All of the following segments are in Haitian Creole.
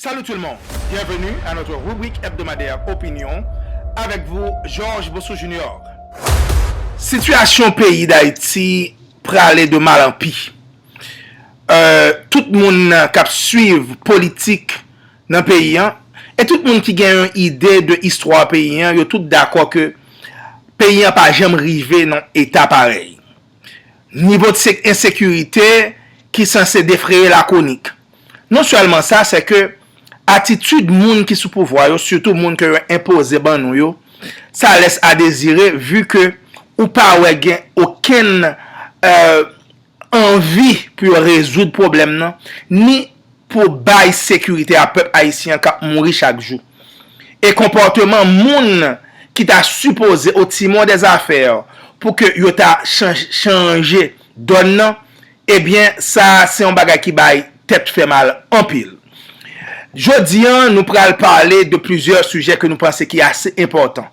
Salut tout le monde! Bienvenue à notre rubrique hebdomadaire Opinion avec vous Georges Bossou Junior. Sitiyasyon peyi Dayiti prale de mal an pi. Tout moun k ap swiv politik nan peyi an e tout moun ki gen yon ide de istwa peyi an yo tout dakò ke peyi an pa janm rive nan eta parèy. Nivo ensekirite ki sanse defreye lakonik. Non sèlman sa, se ke atitid moun ki sou pouvwa yo, sitou moun ke yo enpoze ban nou yo, sa lès a dezire vu ke ou pa wè gen okenn anvi pou yo rezoud pwoblèm nan, ni pou bay sekirite a pèp ayisyen an k ap mouri chak jou. E konpòteman moun ki ta sipoze o timon dè zafè pou ke yo ta chanje dòn nan, ebyen sa a se yon bagay ki bay tèt fè mal anpil. Jodi an nou pral pale de plizyè sijè ke nou panse ki ase enpòtan.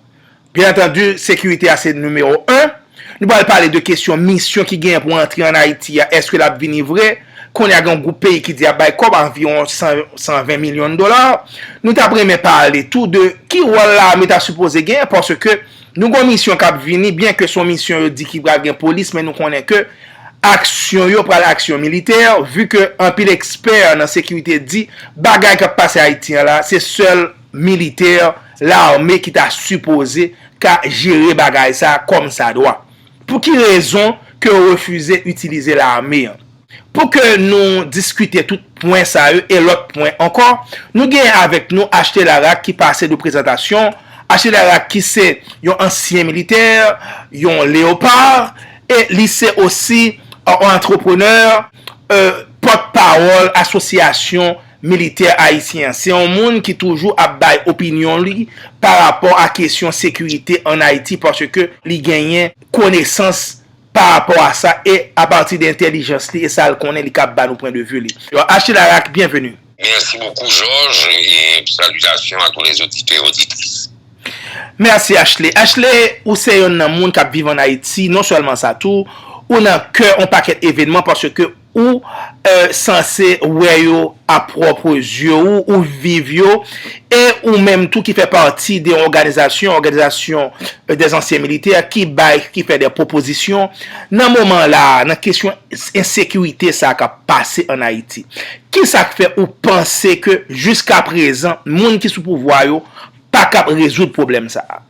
Byen antandi, sekirite a se nimewo 1. Nou pral pale de kesyon misyon ki genyen pou antre an Ayiti a, eske l ap vini vre? Kounye a gen yon gwoup peyi ki di y ap bay kòb, anviwon 120 milyon dola. Nou t ap renmen pale tou de ki wòl lame ta sipoze genyen paske nou gen yon misyon k ap vini, byen ke se yon misyon yo di ki pral gen polis men nou konnen ke aksyon yo pral aksyon militè vi ke anpil ekspè nan sekirite di bagay k ap pase Ayiti an la se sèl militè, lame ki ta sipoze ka jere bagay sa kòm sa dwa. Pou ki rezon ke yo refize itilize lame an? Pou ke nou diskite tout pwen sa yo e lòt pwen ankò, nou genyen avèk nou HT Laraque ki pase nou prezantasyon. HT Laraque ki se yon ansyen militè, yon Leopard, e li se osi yon antreprenè, pòt pawòl asosyasyon Militè ayisyen an, se yon moun ki toujou ap bay opinyon li pa rapò a kesyon sekirite an Ayiti paske li genyen konesans pa rapò a sa e a pati de entèlijans li e sa l konnen li kab ba nou pwen de vi li. Achille Arac, byenveni. Mèsi bokou Georges e salitasyon a tou les oditè e oditris. Mèsi Achille. Achille, ou se yonn nan moun k ap viv an Ayiti, non sèlman sa tou, ou nan kè yon pakèt evenman paske Ou sanse wè yo a pwòpre zye ou, ou viv yo, e ou menm tou ki fè pati de yon òganizasyon, òganizasyon dè ansyen militè, ki bay, ki fè dè pwopozisyon, nan moman la a, nan kesyon ensekirite sa a k ap pase an Ayiti. Ki sa k fè ou panse ke jiska prezan, moun ki sou pouvwa yo, pa kab rezoud pwoblèm sa a?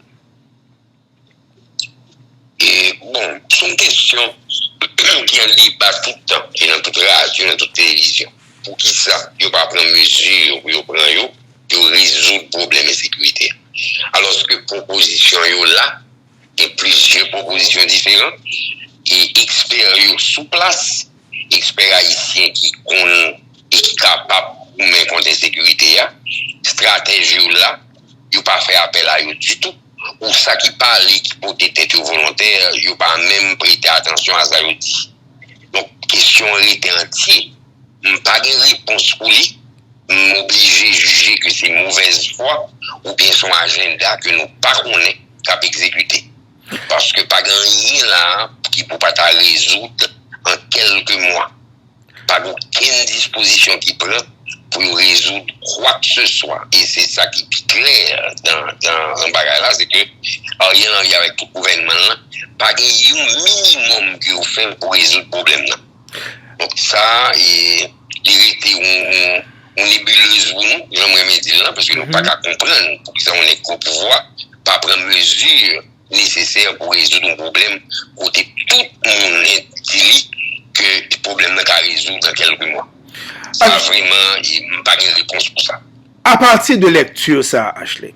E bon, se yon kesyon ki an deba tout tan, ki nan tout radyo, nan tout televizyon. Pou ki sa yo pa pran mezi yo pou yo pran yo, pou yo rezoud pwoblèm ensekirite a? Alòske pwopozisyon yo la, gen plizyè pwopozisyon diferan, e ekspè yo sou plas, ekspè ayisyen ki konn e ki kapab goumen kont ensekirite a, estratèj yo la, yo pa fè apèl a yo ditou. Pou sa ki pale ki pote tèt yo volontè, yo pa menm prete atansyon a sa yo di. Donk, kesyon an rete antye. M pa gen repons pou li. M oblije jije ke se movèz fwa oubyen se yon ajenda ke nou pa konnen k ap egzekite. Paske pa gen anyen la a ki pou pa ta rezoud an kèlke mwa. Pa gen okenn dispozisyon ki pran pou yo rezoud kwakseswa. E se sa ki pi klè nan bagay la, se ke Ariel Henry avèk tout gouvènman l lan pa gen yon minimòm ke yo fè pou rezoud pwoblèm nan. Donk sa, li rete yon nebuleuze pou nou, jan m renmen di l lan, paske nou pa ka konprann poukisa yon nèg ki o pouvwa pa pran mezi. nesesè pou rezoud yon pwoblèm kote tout moun di li ke pwoblèm nan ka rezoud nan kelke mwa. Sa vreman, m pa gen repons pou sa. A pati de lekti sa a Ashley,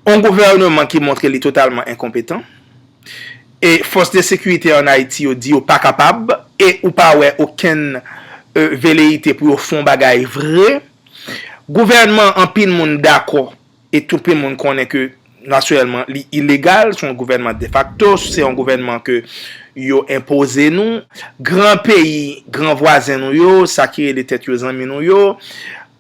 yon gouvèneman ki montre li totalman enkonpetan, e fòs de sekirite an Ayiti yo di yo pa kapab, e ou pa wè okenn veleyite pou yo fè yon bagay vre, gouvèneman anpil moun dakò E tout le moun konnen ke natirèlman li ilegal, son gouvènman defakto, se yon gouvènman ke yo enpoze nou. Gran peyi, gran vwazen nou yo, sa ki rele tèt yo zanmi nou yo,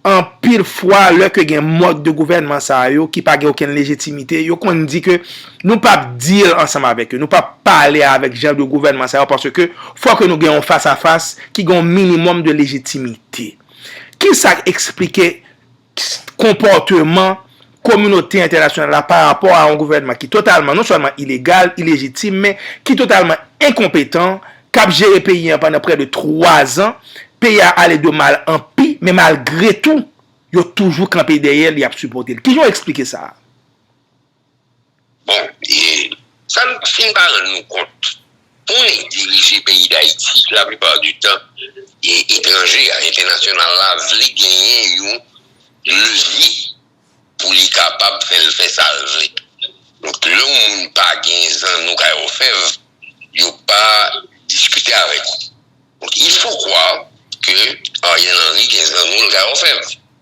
anpil fwa lè ke gen mòd de gouvènman sa yo ki pa gen okenn lejitimite, yo konn di ke nou pa p deal ansanm avèk yo, nou pa p pale avèk jan de gouvènman sa yo paske ke fò ke nou gen yon fas a fas ki gen yon minimòm de lejitimite. Kisa k esplike? konpòteman kominote entènasyonal la pa rapò a yon gouvènman ki totalman non sèlman ilegal, ilejitim men ki totalman enkonpetan k ap jere peyi an pandan prè de 3 zan, peyi a ale de mal an pi men malgre tou yo toujou kanpe dèyè l y ap sipòte l. Kijan w esplike sa a? Bon e sa nou fin pa rann nou kont, pou nèg dirije peyi dayiti la plupart du tan e etranje a, entènasyonal la vle genyen yon levye pou li kapab fè l fè sa l vle. Donk lè yon moun pa gen zanno kay òfèv, yo pa diskite avèk ou. Donk il faut croire ke Ariel Henry gen zanno l kay òfèv.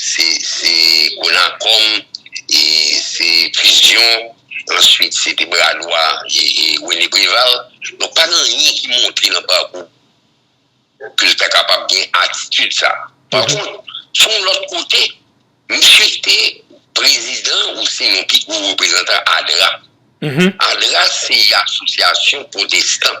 Se Golan Kòm, se Fizyon, answit se te bra dwa Rene Preval. Donk pa gen anyen ki montre nan pakou ke l ta kapab gen atitid sa. Pa kont, sou yon lòt kote, misye te prezidan ou se yon pi gwo reprezantan ADRA. ADRA se yon asosyasyon pwotestan.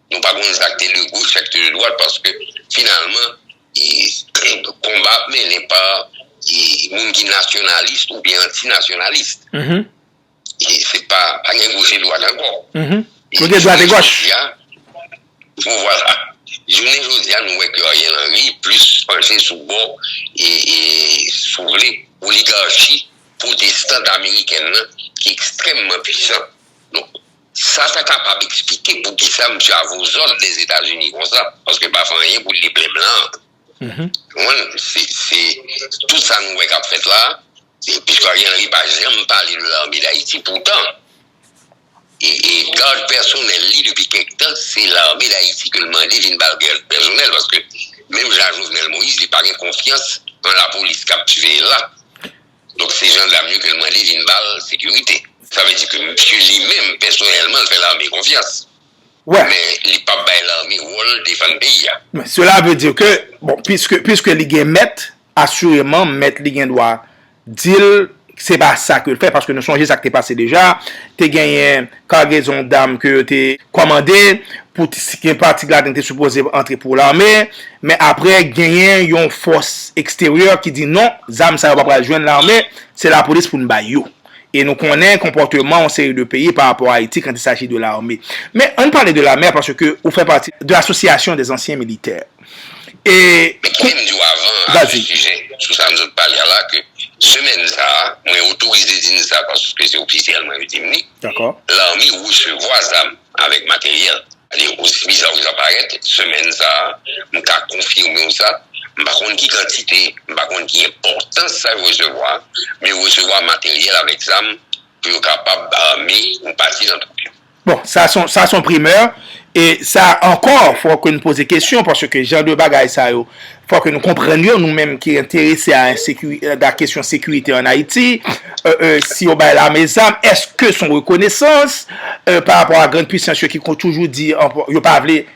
Nou pa konn sak te de goch, sak te de dwat paske finalman konba ap mennen pa moun ki nasyonalis ou byen antinasyonalis. Se pa gen goch e dwat ankò. Ou gen dwat e goch. Vwala. Jounen jodi a nou wè ke Ariel Henry plis panche sou bò e sou vle oligarchi pwotestant amerikèn nan ki ekstrèmman pwisan. Sa ta kapab eksplike poukisa misye a vouzan Lezetazini konsa, paske pa fè anyen pou li plen blan an. Ou konprann? Se, se, tout sa nou wè k ap fèt la, piske Ariel Henry pa janm pale de lame Dayiti, poutan, e, e gad pèsonèl li depi kèk tan, se lame Dayiti ke l mande vin ba l gad pèsonèl, paske menm jan a Jovenel Moïse, li pa gen konfyans nan lapolis k ap siveye l la. Donk se jandam yo ke l mande vin ba l sekirite. Sa vle di ke misye li menm pèsonèlman l fè lame konfyans. Men li pap bay lame wòl defann peyi a. Men sela vle di ke, bon, piske li gen mèt, asireman mèt li gen dwa di l se pa sa ke l fè. Paske nou sonje sa k te pase deja. Te genyen. Kagezon dam ke yo te kòmande pou gen pati ladan te sipoze antre pou lame, men apre genyen yon fòs eksteryè ki di non, zam sa yo pa pral jwenn lame, se lapolis pou n bay yo. E nou konnen konpòteman yon seri de peyi parapò Ayiti kan ti saji de lame. Men an n pale de lame a paske ou fè pati de Association des anciens militaires. e. Men kite m di w avan a sou sijè sou sa m sot pale a la ke semèn sa a, mwen otorize di n sa paske se ofisyèlman yo di m li, lame resevwa zam avèk materyèl. Sètadi osi biza ke sa parèt, semèn sa a, m ka konfime w sa, m pa konn ki kantite, m pa konn ki enpòtans sa yo resevwa, men yo resevwa materyèl avèk zam pou yo kapab ame yon pati nan twoup yo. Bon, sa son, sa son primeur, e sa ankò fò ke nou poze kesyon, paske ke jan de bagay sa yo, fò ke nou konprann yo, nou menm ki enterese a ensekiri, a kesyon sekirite an Ayiti, e, e, si yo bay lame zam, eske son rekonesans, e, pa rapò a grand puisans yo ki kon toujou di, yo pa vle.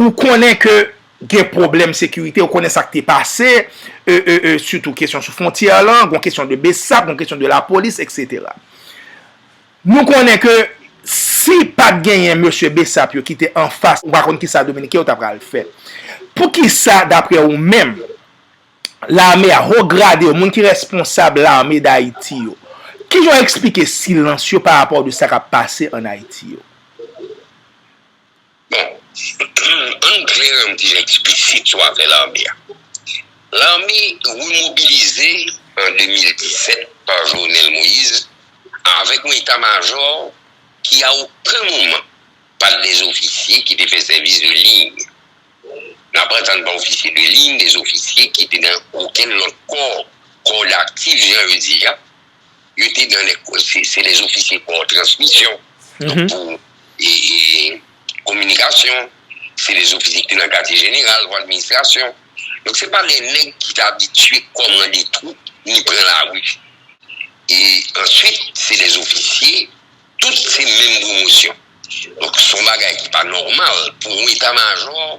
Ou konnen ke gen pwoblèm sekirite, ou konnen sa k te pase, sitou kesyon sou fwontyè lan, gon kesyon de besap, gon kesyon de lapolis, eksetera. Nou konnen ke si pa t genyen mesye besap yo ki te anfas, ou pa konn kisa Dominiken yo ta pral fè. Poukisa, dapre ou menm, lame a, ho grade yo, moun ki responsab lame Dayiti yo, ki jan yo eksplike silans yo pa rapò de sa k ap pase an Ayiti yo? Bon, ann klere m di jan difisil sou afè lame a. Lame remobilize an 2017 pa Jovenel Moïse avèk yon eta majò ki a oken moman pa t dezofisye ki te fè sèvis de liy. N ap antann pa ofisye de liy, dezofisye ki te nan okenn lòt kò, kò daktif jan yo di a. yo te nan lè kòz se se lè ofisye kò transmisyon donk pou e kominikasyon se lè ofisye ki te nan katye jeneral pou administrasyon donk se pa lè nèg ki te abitye kòmande twoup ni pran lari e answit se lè ofisye tout se menm pwomosyon donk son bagay ki pa nòmal pou yon eta majò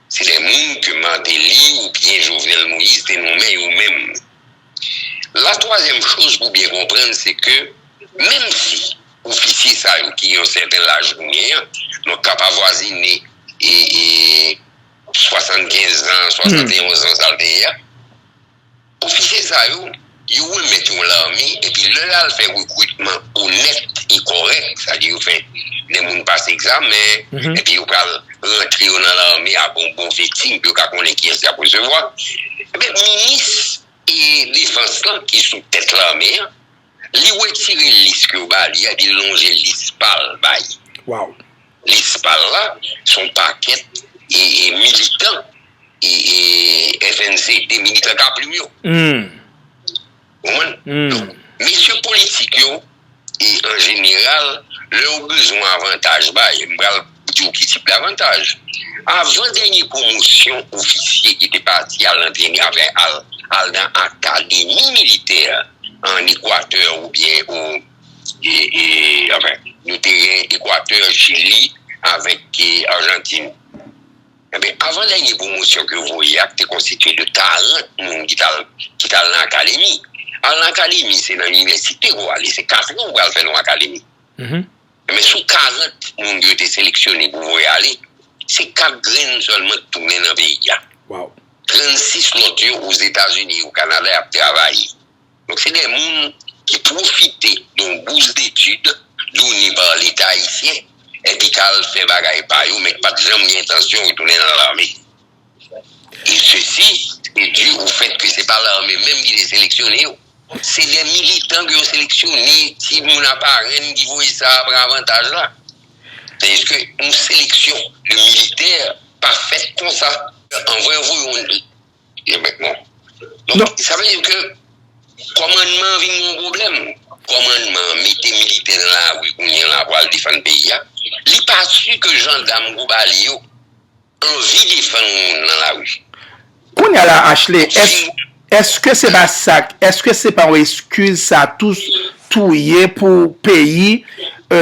Se lè moun ke Martelly ou byen Jovenel Moïse te nonmen yo menm. La twazyèm choz pou byen konprann se ke menm si ofisye sa yo ki gen yon sèten laj kounye an, donk kap avwazine 75 zan, 71 zan sa l te ye a. Ofisye sa yo, yo remèt yon lame epi lè yo al fè rekritman onèt e kòrèk, sa di yo fè lè moun pase egzamen epi yo pral rantre yo nan lame ak yon bon vetting pou yo ka konnen kiyès y ap resevwa, enben minis defans lan ki sou tèt lame an, Li wetire lis ke yo ba li a, epi li lonje lis pa l bay. Lis pa l la, se yon pakèt militan FNCD, militan Kaplim yo. Ou konprann? Donk, mesye politik yo, an jeneral, lè yo bezwen avantaj, bay, m pral. Diw ki tip davantaj. Avan dènye pwomosyon ofisye ki te pati al antrene apre al nan akademi militè an Ekwatè oubyen o nou te gen Ekwatè, Chili avèk Arjantin. Enben avan dènye pwomosyon ke yo voye a te konstitye de 40 moun ki tal nan akademi. Al nan akademi se nan inivèsite pou ale se 4 an ou pral fè nan akademi. Men sou 40 moun yo te seleksyone pou voye ale, se 4 grenn sèlman ki tounen nan peyi a. 36 lòt yo Ozetazini, o Kanada y ap travay. Donk se de moun ki pwofite yon bous detid done pa Leta ayisyen epi k al fè bagay pa yo men ki pa t janm gen entansyon retounen nan lame. E sesi e di o fèt ke se pa lame menm ki te seleksyone yo. Se de militan ke yo seleksyone, ti moun aparèn ki voye sa a pran avantaj la. Deske yon seleksyon de militè pa fèt konsa. An vwe vwe yon li. Yon bèk moun. Non, sa vle di ke kòmandman vin yon pwoblèm. Kòmandman mete militè nan lari kounye la pou al defann peyi a. Li pa si ke jandam kou bali yo. Anvi defann moun nan lari. Kounya la Ashley eske se pa sak eske se pa yon eskiz sa tou tou ye pou peyi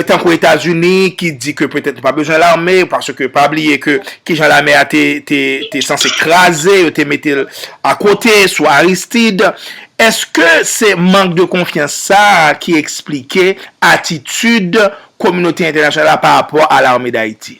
tankou etazini ki di ke petèt nou pa bezwen lame paske pa bliye ke kijan lame a te sanse kraze yo te mete l akote sou aristid eske se mank de konfyans sa ki esplike atitid kominote entènasyonal la pa rapò a lame dayiti.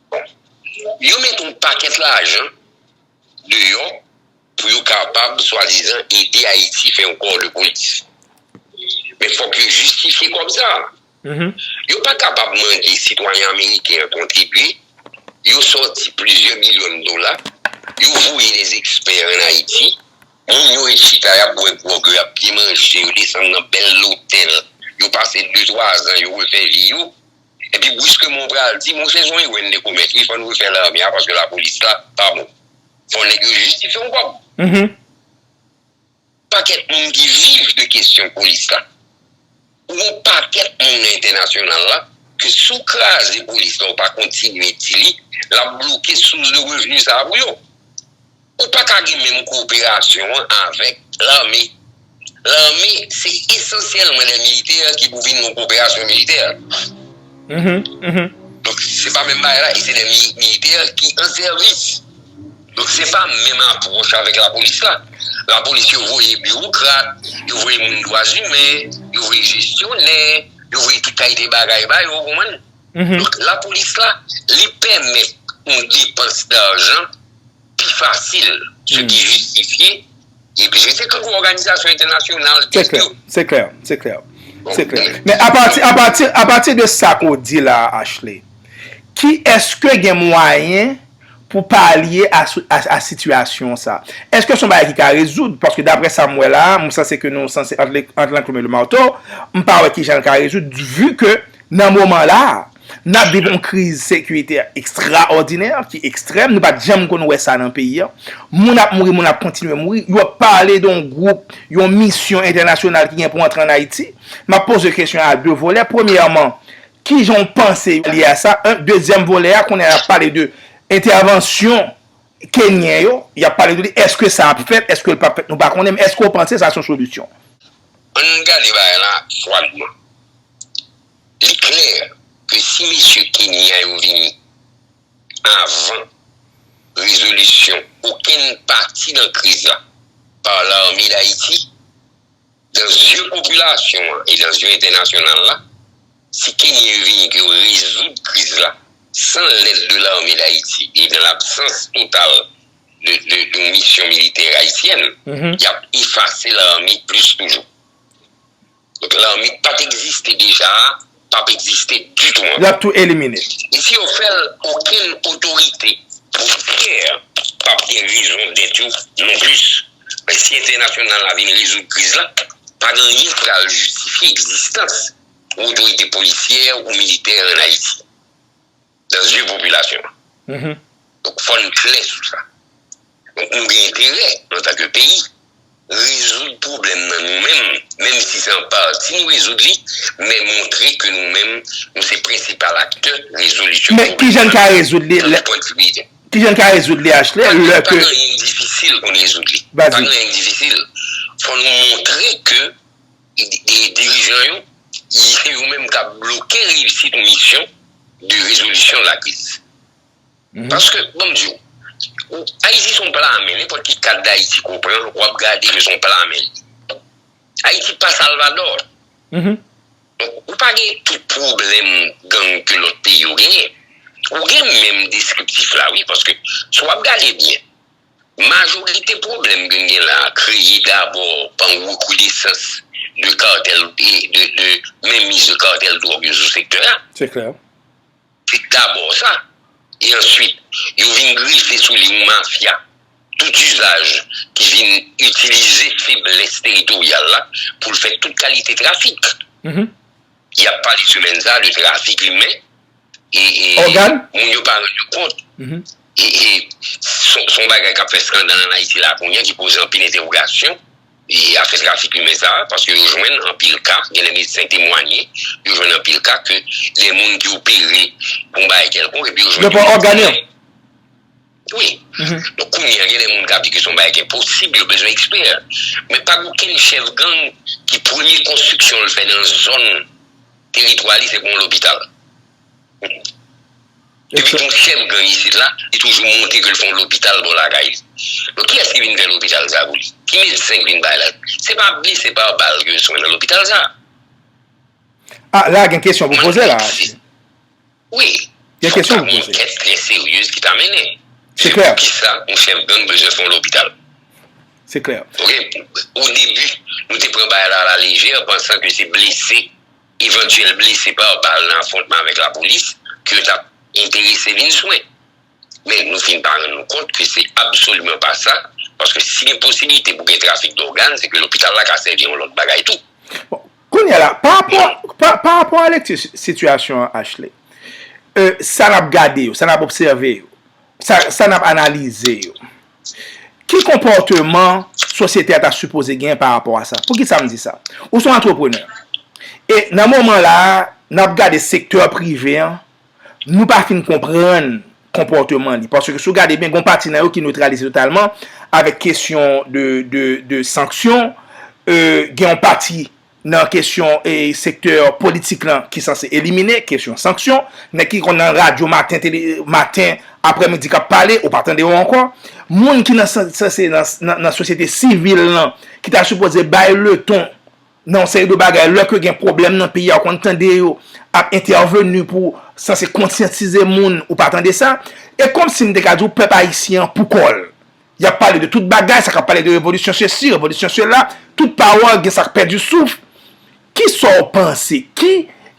Yo met yon pakèt lajan deyò pou yo kapab swadizan ede Ayiti fè yon kò de polis. Men fòk yo jistifye kòb sa a. Yo pa kapab mande sitwayen ameriken an kontribye, yo sòti plizyè milyon dola, yo voye dè ekspè ann Ayiti, moun yo ret chita y ap bwè gwòg, yo ap byen manje, yo desann nan bèl lotèl, yo pase de twa zan, yo refè vi yo, Epi briskman w pral di, bon se yon erè n te komèt wi, fò n refè lame a paske lapolis la pa bon. Fò nèg yo jistifye w kòb. Pakèt moun ki viv de kesyon polis la. Ou gen yon pakèt moun nan entènasyonal la ke si w kraze polis la ou pa kontinye di li, l ap bloke sous de revni sa a pou yo. Ou pa ka gen menm koperasyon an avèk lame. Lame se esansyèlman lè militè ki pou vin yon koperasyon militè. Donk se pa menm bagay la e se lè militè ki an sèvis. Donk se pa menm apwòch avèk lapolis la. Lapolis yo voye biwokrat, yo voye moun dwa zimen, yo voye jesyonè, yo voye tout kalite bagay ba yo, ou konprann? Donk lapolis la, li pèmèt yon depans dajan. pi fasil, se ki jistifye, epi se se tout òganizasyon entènasyonal tèt yo. Se klè, se klè, se klè. Men apati, apati, apati de sa ke w di la a Ashley, ki eske gen mwayen pou palye a sou, a sitiyasyon sa? Eske son bagay ki ka rezoud? Paske daprè sa m wè la a, m sanse ke nou sanse ant, ant lanklwim e lemarto, m pa wè ki jan l ka rezoud, vu ke nan moman la a, N ap viv yon kriz sekiritè ekstraòdinè, ki ekstrèm, nou pa t janm konn wè sa nan peyi an. Moun ap mouri, moun ap kontinye mouri. Yo ap pale de yon gwoup, yon misyon entènasyonal ki gen pou antre ann Ayiti. M ap poze kesyon a de volè. Premyèman, ki jan w panse li a sa? Un. Dezyèm volè a, kounye a y ap pale de entèvansyon kenyen yo. Y ap pale de li. Èske sa ap fèt? Èske l p ap fèt? Nou pa konnen. Men èske w panse sa se yon solisyon? Ann gade bagay lan fwadman. Li klè ke si mesye Kenyan yo vini avan rezolisyon okenn pati nan kriz la pa lame Dayiti, dan zye popilasyon an e dan zye entènasyonal la, si Kenyan yo vini ke yo rezoud kriz la san lèd de lame Dayiti e nan labsans total de yon misyon militè ayisyèn, y ap efase lame plis toujou. Donk lanbi ki pat egziste deja a pap egziste ditou ankò. Lap tou elimine. E si yo fèl okenn otorite potisyè pap gen rezon dèt yo non plis. Men si entènasyonal la vin rezoud kriz la, pa gen anyen ki pral jistifye egzistans yon otorite polisyè ou militè an Ayiti. dan zye popilasyon an. Donk fò n klè sou sa. Donk nou gen enterè antanke peyi rezoud pwoblèm nan nou menm, menm si se an pati nou rezoud li, men montre ke nou menm nou se prensipal aktè rezolisyon pwoblèm nan. Men kijan n ka rezoud li? Kijan n ka rezoud li HT? Pa gen anyen difisil pou n rezoud li. Pa gen anyen difisil. Fò nou montre ke. dirijan yo, se yo menm k ap bloke reyisit misyon de rezolisyon de la kriz. Paske, ban m di w, Ayiti se yon plame, nenpòt ki kat Dayiti ke w pran, w ap gade ke se yon plame. Ayiti pa Salvadò. Donk, ou pa gen tout pwoblèm gang ke lòt peyi yo genyen. Ou gen menm deskriptif la wi, paske, si w ap gade byen, Majorite pwoblèm gen gen la kreye dabò pa yon rekonesans de kartèl de menmiz de kartèl dwòg yo sou sektè a. Se klè. Se dabò sa. E answit, yo vin grefe sou li yon mafya tout izaj ki vin itilize feblès teritoryal la pou l fè tout kalite trafik. y ap pale sou menn sa de trafik imen e moun yo pa rann yo kont e son bagay k ap fè skandal an Ayiti la kounye ki poze anpil entewogasyon e afè trafik imen sa paske yo jwenn anpil ka gen de medsen temwanye yo jwenn anpil ka ke gen moun ki opere pou m bay kèlkonk epi yo jwenn yo pa ògane Wi, donk kounye a gen de moun k ap di ke se yon bagay ki enposib, yo bezwen ekspè. Men pa gen okenn chèf gang ki premye konstriksyon l fè nan zòn teritwa li se pou yon lopital. Depi gen yon chèf gang isit la, li toujou montre ke l fè yon lopital bò lakay li. Donk kiyès ki vin fè lopital sa pou li? Ki medsen ki vin bay la? Se pa blese pa bal ke yo swen nan lopital sa. A, la gen kesyon pou poze la. Wi, fòk ta gen yon kès byen seryez ki ta mennen. Se klè. Se poukisa yon chèf gang bezwen fè yon lopital. Se klè. Ok, o debi, nou te pran bagay la a la lejè, pansan ke se blese, evantyèl blese pa bal nan afwontman avèk lapolis, ke yo ta enterese vin swen. men nou fin pa rann nou kont ke se absoliman pa sa, paske si gen posibilite pou gen trafik dògàn, se ke lopital la ka sèvi yon lòt bagay tou. Bon, kounye a la, pa rapò, pa rapò a lekti sitiyasyon an Ashley, e, sa n ap gade yo, sa n ap obsève yo, sa n ap analize yo, ki konpòteman sosyete a ta sipoze gen pa rapò a sa? Poukisa m di sa? Ou se yon antreprenè, e nan moman la a, n ap gade sektè prive an, Nou pa fin konprann konpòteman li. Paske si w gade byen, gen yon pati nan yo ki neutralize totalman avèk kesyon de sanksyon. Gen yon pati nan kesyon sektè politik lan ki sanse elimine kesyon sanksyon. Nèg ki konn nan radyo maten, aprè midi k ap pale, ou pa tande yo ankò. Moun ki nan sosyete sivil lan ki ta sipoze bay leton. nan yon seri de bagay, lè ke gen pwoblèm nan peyi a ou konn tande yo ap entèveni pou sanse konsyantize moun, ou pa tande sa, e kòmsi m te ka di w pèp ayisyen an pou kò l, y ap pale de tout bagay, sa ka pale de revolisyon sesi, revolisyon sela, tout pawòl gen sa k pèdi souf, ki sa w panse, ki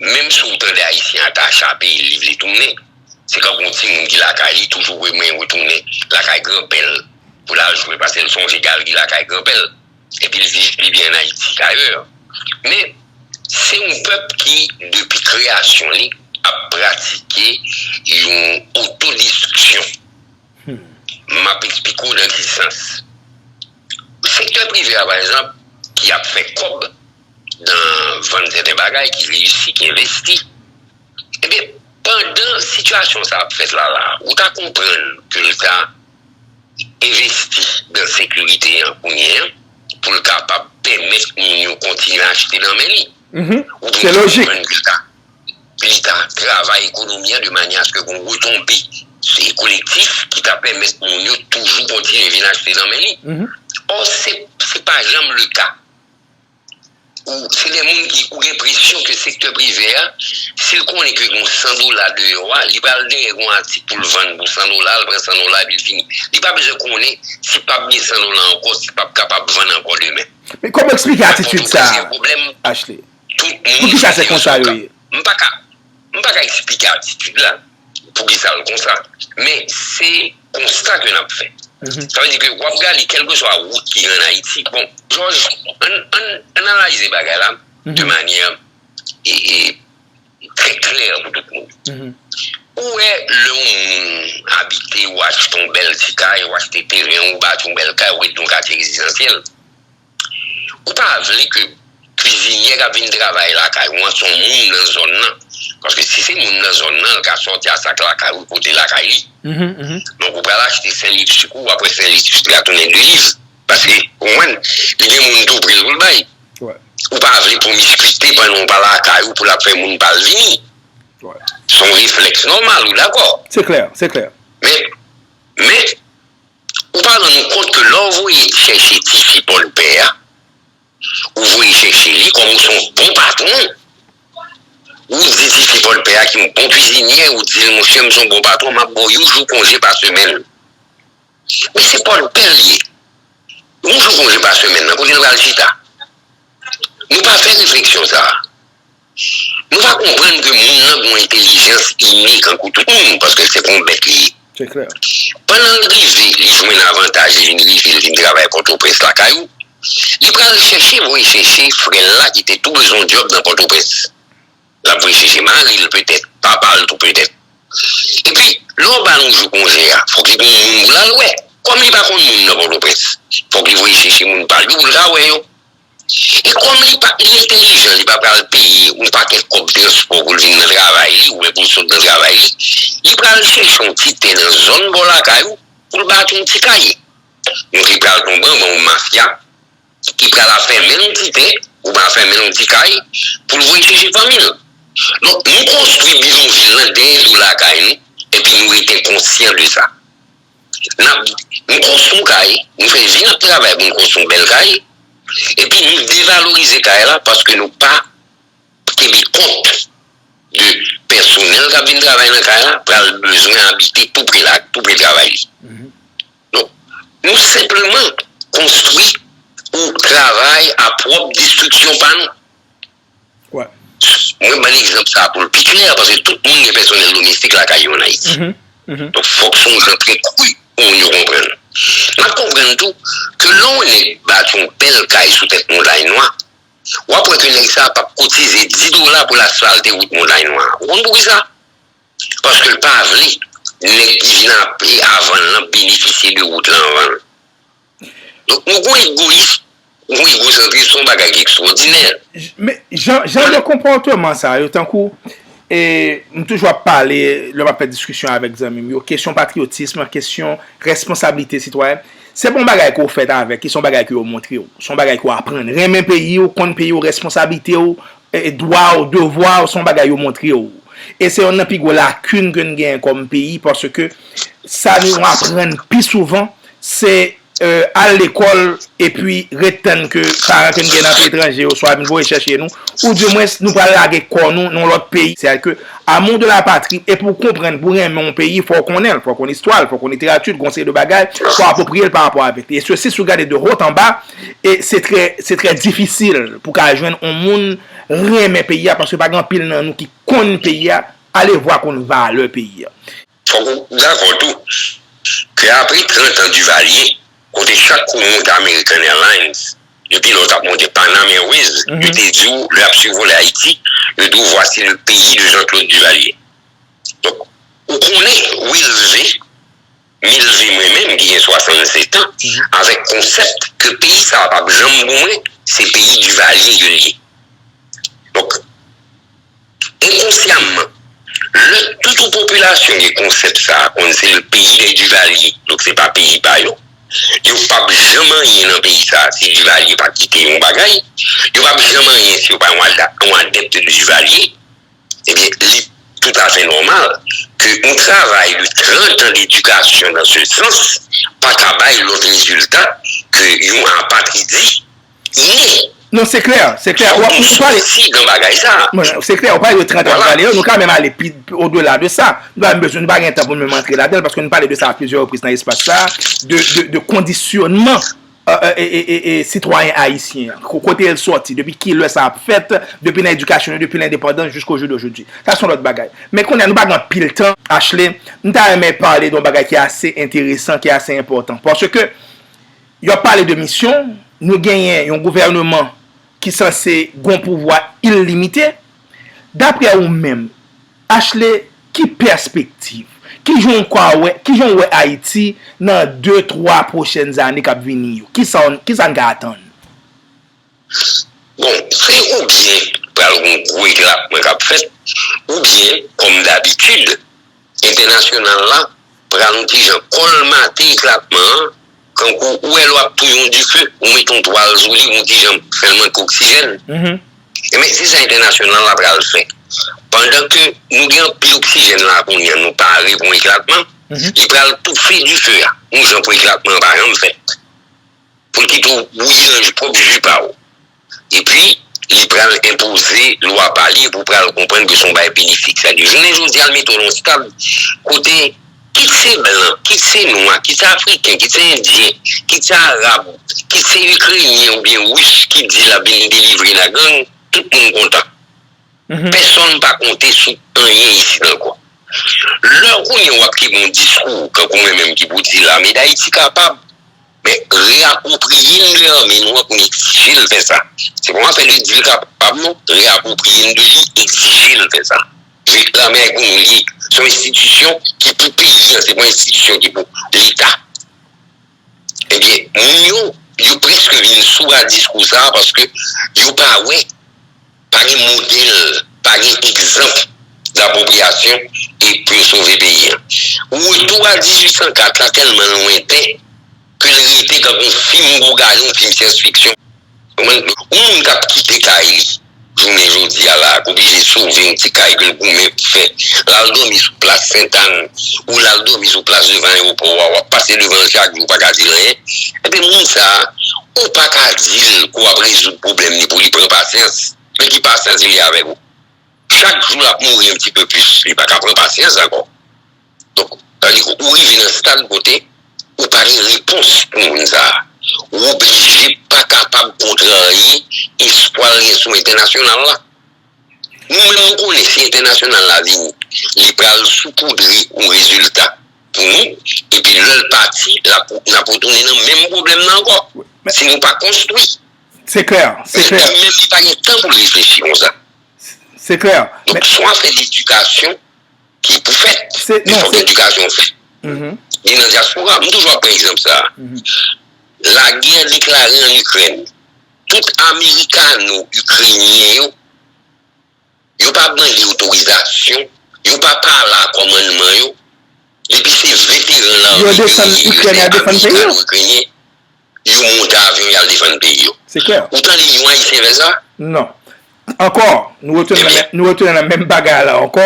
Menm si w tande Ayisyen an ta chape li vle tounen, se tankou yon timoun ki lakay li toujou vwe men retounen lakay granpè l pou l al jwe pase l sonje gal li lakay granpè l epi l viv pi byen an Ayiti kayè. Men, se yon pèp ki depi kreyasyon li ap pratike yon otodestriksyon. M ap esplike w nan ki sans. Sektè prive a pa ekzanp ki ap fè kòb nan vann sèten bagay ki reyisi, ki envesti. Ebyen pandan sitiyasyon sa ap fèt la la ou ta konprann ke leta envesti nan sekirite an kounye an pou l kapab pèmèt moun yo kontinye achte nan men li. Ou ta konprann ke leta leta travay ekonomi an de manye aske gon retonbe kolektif ki ta pèmèt moun yo toujou kontinye vin achte nan men li. Ò, se pa janm le ka. Ou, se de moun ki ou gen presyon ke sektè prive a, si l konnen ke gon 100 dola deyò a, li pral dèyè gon atik pou l vann pou 100 dola, l pran 100 dola epi l fini. Li pa bezwen konnen si pap gen 100 dola ankò, si pap kapab vann ankò demen. Men kòman w eksplike atitid sa a, Ashley? Tout moun Pou kisa se konsa yo ye? M pa ka M pa ka eksplike atitid la Pou kisa l konsa Men se konsta ke n ap fè Sa vle di ke w ap gade kèlkeswa wout ki gen an Ayiti Bon Jòj An n analayize bagay la de manyè Trè klè pou tout moun Ou wè lè yon moun abite ou achte yon bèl ti kay ou achte teren ou bati yon bèl kay ou rete nan yon katye rezidansyèl Ou pa vle ke kwizinyè kap vin travay lakay ou an se yon moun nan zòn nan. Paske si se moun nan zòn nan, li ka sòti a sak lakay ou pote lakay li. Donk ou pral achte sen lipstik ou, aprè sen lipstik la tounen de liv. Paske, ou konprann, li gen moun tou pre l pou l bay. Ou pa vle pwomiskwite pandan ou pa lakay ou pou l ap fè moun pa al vini. Se yon reflèks nòmal, ou dakò? Se klè, se klè. Men, men. Ou pa rann ou kont ke lè w voye chèche tifi pòdpè a, ou voye chèche li kòm ou se yon bon patwon, ou di tifi pòdpè a ki yon bon kwizinyè, ou di l monchè m se yon bon patwon m ap ba w yon jou konje pa semèn. Men se pòdpè l ye. Yon jou konje pa semèn nan kote l pral chita? Nou pa fè refleksyon sa a. Nou va konprann ke moun nan gen yon entelijans ini kankou tout moun, paske se pa yon bèt li ye. Pandan l rive, li jwenn avantaj, li vin rive, li vin travay Pòtoprens lakay ou, li pral chèche voye chèche frè l la ki te tou bezwen yon djòb nan Pòtoprens. L ap voye chèche mari l petèt, papa l tou petèt. Epi, lè w ba l yon jou konje a, fòk li gen yon moun pou l al wè. Kòm li pa konn moun nan Pòtoprens, fòk li voye chèche moun pa l yo pou l ka wè yo. E kòm li pa li entelijan li pa pral peye yon pakèt kòb transpò pou l vin nan travay li oubyen pou l sot nan travay li, li pral chèche yon ti tè nan zòn bò lakay ou pou l bati yon ti kay. Nou te pral tonbe anba yon mafya ki pral ap fèmen l yon ti tè oubyen ap fèmen l yon ti kay pou l voye chèche fanmi l. Donk, nou konstwi bidonvil lan dèyè do lakay nou epi nou rete konsyan de sa. Nap nou konstru kay, nou fè vi nap travay pou nou konstru yon bèl kay, epi nou devalorize kay la paske nou pa kenbe kont de pèsonèl kap vin travay nan kay la pral bezwen abite tou pre la, tou pre travay li. Donk, nou senpleman konstru ou travay a pwòp destriksyon pa nou. Mwen ban egzanp sa a pou l pi klè, paske tout moun gen pèsonèl domestik lakay yo an Ayiti. Donk, fòk se yon jan trè kri pou moun yo konprann. N ap konprann tou ke lè yon nèg bati yon bèl kay sou tèt Montagne Noire, w ap wè ke nèg sa a p ap kotize di dola pou l asfalte wout Montagne Noire. Ou konn poukisa? Paske l pa vle nèg ki vin avan l lan benefisye de wout lan anvan l. Donk nou gon egoyis, gon egosantris, son bagay ki ekstwòdinè. Men, jan de konpòteman sa yo, tankou, e, m toujou ap pale, lè m ap fè diskisyon avèk zanmi m yo, kesyon patriyotism, kesyon responsablite sitwayèn, se pa yon bagay ke w fèt avèk, se yon bagay ke yo montre w, se yon bagay ke w aprann, renmen peyi w, konn peyi w, responsablite w. Dwa w, devwa w se yon bagay yo montre w. E se yonn nan pi gwo lakin ke n genyen kòm peyi paske sa nou aprann pi souvan se al lekòl epi ret tann ke paran ke n gen nan peyi etranje yo swa vin voye chèche nou ou di mwens nou pral lage kò nou nan yon lòt peyi. Se a ke amour de la patrie e pou w konprann, pou w renmen yon peyi fò w konnen l, fò w konn istwa l, fò w konn literati l, gon seri de bagay fò w apropriye l pa rapò avèk li. E sesi si w gade de haut en bas. E se trè, se trè difisil pou ka jwenn on moun renmen peyi a paske pa gen anpil nan nou ki konn peyi a, alevwa konn valè peyi a. Fòk ou dakò tou ke apre 30 an Divalye, kote chak kou moun te American Airlines, depi lè w t ap monte Panam Airways, yo te di w lè y ap sivole Ayiti, yo di w voici le pays de Jean-Claude Duvalier. Donk, ou konnen, Wilsv. Milve mwen menm ki gen 67 an avèk konsèp ke peyi sa a pap janm pou mwen se peyi Duvalier ke l ye. Donk enkonsyamman lè tout yon popilasyon gen konsèp sa a konn se le pays des Duvaliers donk se pa peyi pa yo, yo pap janm anyen nan peyi sa a si Duvalier pa kite yon bagay, yo pap janm anyen si yo pa yon adèpt de Duvalier. Ebyen li toutafè nòmal ke yon travay de 30 an d'edikasyon nan se sans pa ka bay lòt rezilta ke yon apatridi ni Non se klè, se klè. Ou pale. Soti nan bagay sa. Se klè, ou pale de 30 an pou pale yo, nou ka menm ale pi o de la de sa. Nou pa menm bezwen, nou pa gen tan pou nou menm antre ladan l paske nou pale de sa a plizyè repriz nan espas sa a de kondisyònman sitwayen ayisyen an? Kote l sòti? Depi ki lè sa ap fèt? Depi nan edikasyon yo, depi lendepandans jiskojodojodi? Sa se yon lòt bagay. Men kounye a, nou pa gen anpil tan. Ashley, m ta renmen pale de yon bagay ki ase enteresan, ki ase enpòtan. Paske yo ap pale de misyon, nou genyen yon gouvèneman ki sanse gen yon pouvwa ilimite. Dapre ou menm. Ashley, ki pèspektiv? Kijan w kwa wè, kijan w wè Ayiti nan de, twa pwochèn zane k ap vini yo? Kisa w, kisa n ka atann? Bon, se oubyen pral gon gwo eklabman k ap fèt, oubyen, kòm dabitid, entènasyonal la pral yon ti jan kòlmate eklabman an Kankou ou wè lè w ap touye yon dife, ou mete yon twal sou li, ou wè kijan pou fè l manke oksijèn. Enben, se sa entènasyonal la pral fè. Pandan ke nou gen anpil oksijèn la kounye a, nou pare pou yon eklatman, li pral toufe dife a, yon jan pou eklatman an pa janm fèt. Pou l kite w bouyi nan pwòp ji pa ou. Epi, li pral enpoze lwa pa li, epi w pral konprann ke se yon bagay benefik. Sèke jounen jodi a, l mete w nan yon stab kote, kit se blan, kit se nwa, kit se afriken, kit se endyen, kit se arab, kit se ikrenyen oubyen ris ki di l ap vin delivre n a gang, tout moun kontan. Pèsonn pa konte sou anyen isit ankò. Lè kounye a w ap kenbe yon diskou, kankou mwen menm ki pou di lame Dayiti kapab, Men, reapwopriye n de anmi nou an pou n egzije l fè sa. Se pa w afè li di l kapab non. Reapwopriye n de li, egzije l fè sa. Paske lame a e pou nou l ye. Se yon enstitisyon ki pou peyi an, se pa yon enstitisyon ki pou Leta. Ebyen, moun yo, yo prèske vin sou a diskou sa a paske yo pa wè. Pa gen modèl, pa gen egzanp dapwopriyasyon e pou yo sove peyi an. Retou a 1804 la tèlman lwenten ke l rete tankou yon fim gougaye, yon fim syans fiksyon. Ou konprann? Yon moun k ap kite kay li jounen jodi a la, k oblije sove yon ti kay ke l goumen pou fè, l al dòmi sou plas Sentane, ou la al domi sou plas devan ayewopò a, wap pase devan l chak jou ou paka di l anyen, enben moun sa a ou paka di l ke w ap rezoud pwoblèm li pou li pran pasyans, men ki pasyans li gen avèk ou? Chak jou l ap mouri yon ti peu plis, li paka pran pasyans ankò. Donk, sa vle di ke ou rive nan stad kote ou pa gen repons pou moun sa a. Ou oblije pa kapab kontrarye espwa l gen sou entènasyonal la. Nou menm nou konnen si entènasyonal la vini, li pral soupoudre yon rezilta pou nou, epi lè l pati, l ap, n ap retounen nan menm pwoblèm nan ankò, si nou pa konstwi. Se klè, se klè. Li menm li pa gen tan pou l reflechi konsa. Se klè. Donk si w ap fè ledikasyon ki pou fèt, li fòk ledikasyon fèt. Ni nan dyaspora, m toujou ap pran egzanp sa a. Lagè deklare an Ikrèn. Tout amerikano ikrenyen yo, yo pa mande otorizasyon, yo pa pale a kòmannman yo, depi se veteran lame de rejim ikrèn amerikano ikrenyen, yo monte avyon y al defann peyi yo. Ou tande yon ayisyen fè sa? Non. Ankò, nou retounen nan menm bagay la ankò,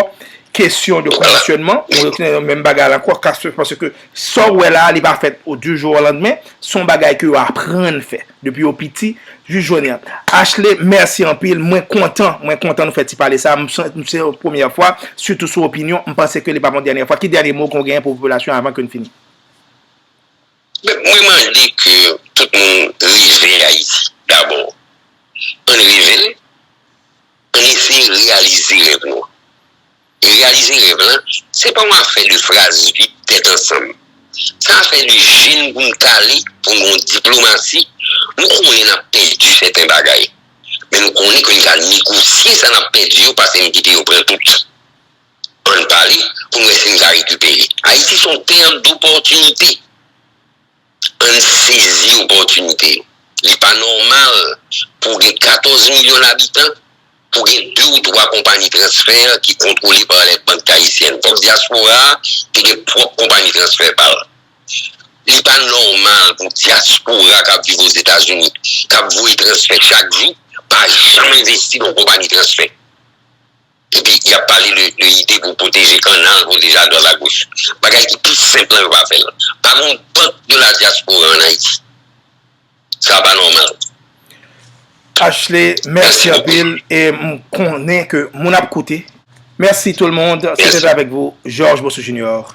kesyon de kondisyònman, nou retounen nan menm bagay la ankò, pase ke sa ou wè la, li pa fèt o di jou o landmen, son bagay ke yo aprann fè, depi yo piti, jis jounen an. Ashley, mèsi anpil, mwen kontan, mwen kontan nou fè ti pale sa, m se yon premyè fwa, sitou sou opinyon, m panse ke li pa pou yon dènyè fwa, ki dènyè mo ke w genyen pou popilasyon avan ke n fini? Mwen mande ke tout moun rive Ayiti. Dabò, ann rive l, ann eseye reyalize rèv nou. E reyalize rèv lan, se pa yon afè de fraz vid tèt ansanm. Se afè de je n pou n kale, pou n gen yon diplomasi. Nou konnen n ap pèdi sèten bagay, men nou konnen ke n ka negosye sa n ap pèdi yo pase n kite yo pran tout. Ann pale pou n wè si n ka rekipere. Ayiti se yon tè dopòtinite. Ann sezi opòtinite yo. Li pa nòmal pou gen 14 milyon abitan, pou gen 2 ou 3 konpayi transfè ki kontwole pa lè bank ayisyèn. Fòk dyaspora a te gen pwòp konpayi transfè pa l. Li pa nòmal pou dyaspora k ap viv Ozetazini, k ap voye transfè chak jou, pa janm envesti nan yon konpayi transfè. Epi yap pale de ide pou pwoteje kannal, pwoteje adwat agoch. Bagay ki pi senp lan yo pa fèl. Pa gen yon bank de la diaspora an Ayiti. Sa pa nòmal. Ashley mèsi anpil e m konnen ke moun ap koute. Mèsi tout le monde. Se te avèk vou Georges Beausouf Junior.